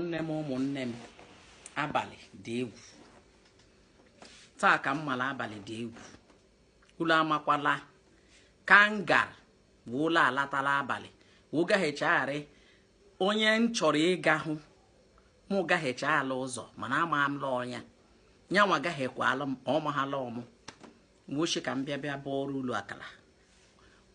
ụmụnne m ụmụnne m abalị dị egwu taa ka m mara abalị dị egwu ulu amakwa la ka m gara wee ụlọ alata la abalị wee gaghị echegharị onye m chọrọ ịga hụ mụ gaghị eche ala ụzọ mana ama m la ọnya nyanwa gaghị ekwe alụ m ọmaghala ọ mụ woo shị ka m bịa bịa bụọrụ ulu aka la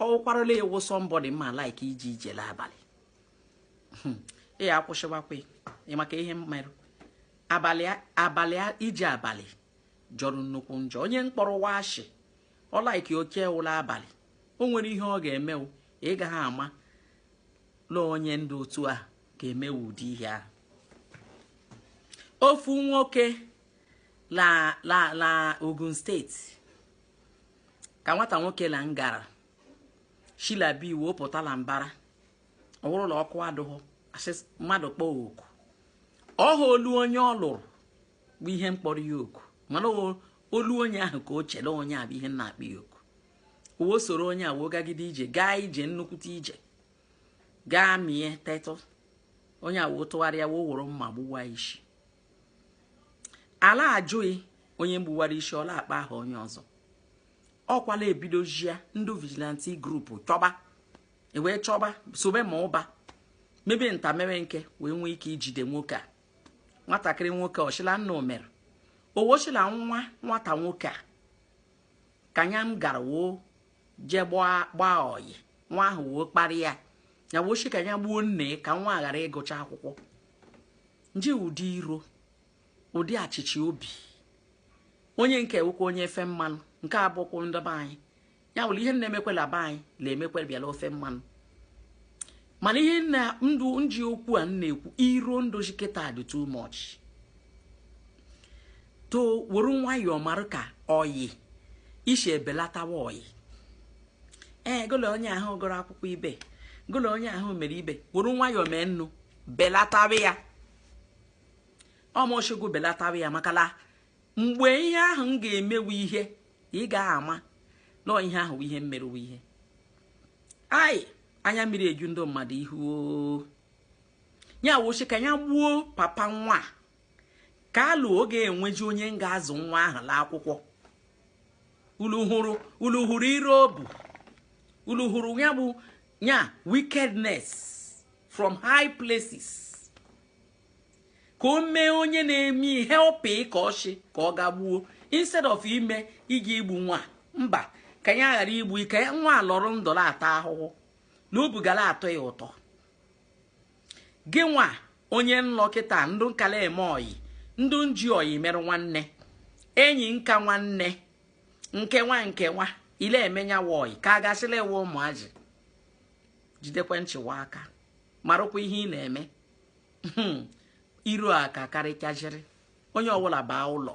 ọ wụkwara la ị wụ somebody mma like iji ije la abalị hmm. ị ya akwụsịwakwa maka ihe mmerụ abalị abalị ije abalị jọrọ nnukwu njọ onye mkpọrọ washi ọ like oke ụla abalị o nwere ihe ọ ga-eme ị gaghị ama la onye ndị otu a ga-emewe ụdị ihe ahụ ofu nwoke la Ogun State ka nwata nwoke la ngara shi la be wo pụta la mbara ọ wụrụ la ọkụ adụghọ asị mmadụ kpọọ oku ọha olu onye ọ lụrụ bụ ihe mkpọrọ ya oku mana olu onye ahụ ka o chere onye a bụ ihe na-akpọ ya oku o wee soro onye a wee gagide ije gaa ije nnukwute ije gaa mie tetụ onye a wee tụgharịa wee wụrụ mma gbuwa isi a la-ajụ ya onye mgbuwara isi ọ la-akpa aha onye ọzọ ọ kwa la e bidozia ndị vigilante group chọba e wee chọba sobe ma ụba mebe nta mebe nke wee nwee ike ijide nwoke a nwatakịrị nwoke ọ shị la nnụ mere o woo shị la nwa nwata nwoke a ka nya gara woo jee gbaa oyi nwa ahụ woo kparịa ya woo shị ka ya gbuo nne ka nwa ghara ịgụcha akwụkwọ nje ụdị iro ụdị ọchịchị obi onye nke a wụkwa onye ofe mmanụ nke abụkwụ ndị be anyị ya wụrụ ihe na-emekwe la be anyị na-emekwe be ala ofe mmanụ mana ihe na ndụ nji okwu a na-ekwu iro ndụzị kịta dị too much o were nwayọọ mara ka oyi isi ebelatawa oyi ee gụ la onye ahụ gụrụ akwụkwọ ibe gụ la onye ahụ mere ibe were nwayọọ mee nnụ belatawa ya ọ mụ shị gụ belatawa ya maka la mgbe ihe ahụ ga-emewu ihe ị gaghị ama na ihe ahụ ihe mmerụ ihe anyị anya mmiri eju ndị mmadụ ihu ya woo shị ka ya gbuo papa nwa ka la oge enweji onye ga-azụ nwa ahụ la akwụkwọ ulu hụrụ iro obu ulu hụrụ ya bụ ya wickedness from high places ka o mee onye na-eme ihe help ka ọchị ka ọ ga gbuo instead of ime ịga igbu nwa mba ka ya ghara igbu ike ya nwa lọrọ ndụ la-ata ahụhụ na obi ga la-atọ ya ụtọ gị nwa onye nlọ kịta ndụ nka la-eme oyi ndụ nji oyi merụ nwanne enyi nka nwanne nke nwa nke nwa ị la-eme nya wa oyi ka a gasịla ewe ụmụazị jidekwe nchị wa aka marụkwa ihe ị na-eme hmm. iro a ka karịchaziri onye ọbụla baa ụlọ